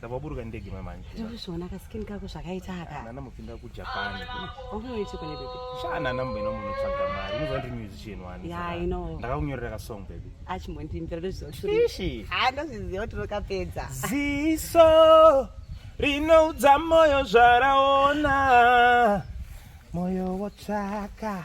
Ndakaburuka ndege mama nje. Ndikushona ka skin kako zvakaita aka. Nana mupinda ku Japan. Unoita kune baby. Shana namba ino munhu tsvaga mari. Unozwa ndi musician wani. Yeah, I know. Ndakakunyorera ka song baby. Achi mondi mbira ndozvo shuri. Ishi. Ha ndozviziva kuti unokapedza. Ziso rinoudza moyo zvaraona. Moyo wotsvaka.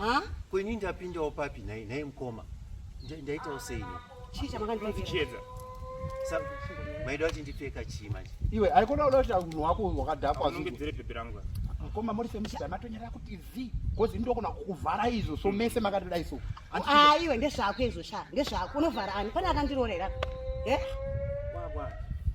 Ah, ko ini ndapindawo papi nhai nhai mukoma Nda- ndaitawo sei ini Chii chamakandipfeka? Chiedza. Sa- maida kuti ndipfeka chii manje Iwe haikona uda kuti munhu wako wakadhakwa zvinhu. Unongedzere bhebhi rangu. Mukoma muri semusika matonyera kuti zi because ini ndokona kukuvhara izvo so mese makatidai so. Handichina- Ah, iwe ndezvako izvo sha. Ndezvako unovhara ani? Pane akandirorera. Eh? Wagwa.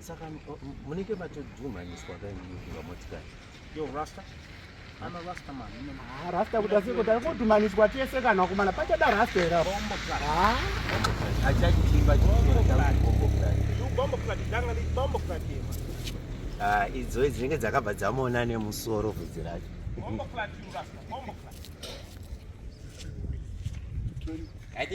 Saka munenge matodhumhaniswa kainikuva motikari yo rasta ana rasta man ah, rasta kuti asi kuti kodhumhaniswa tese kana wakomana pachada rasta here apo achachitimba ah, idzo dzinenge dzakabva dzamuona nemusoro vhudzi racho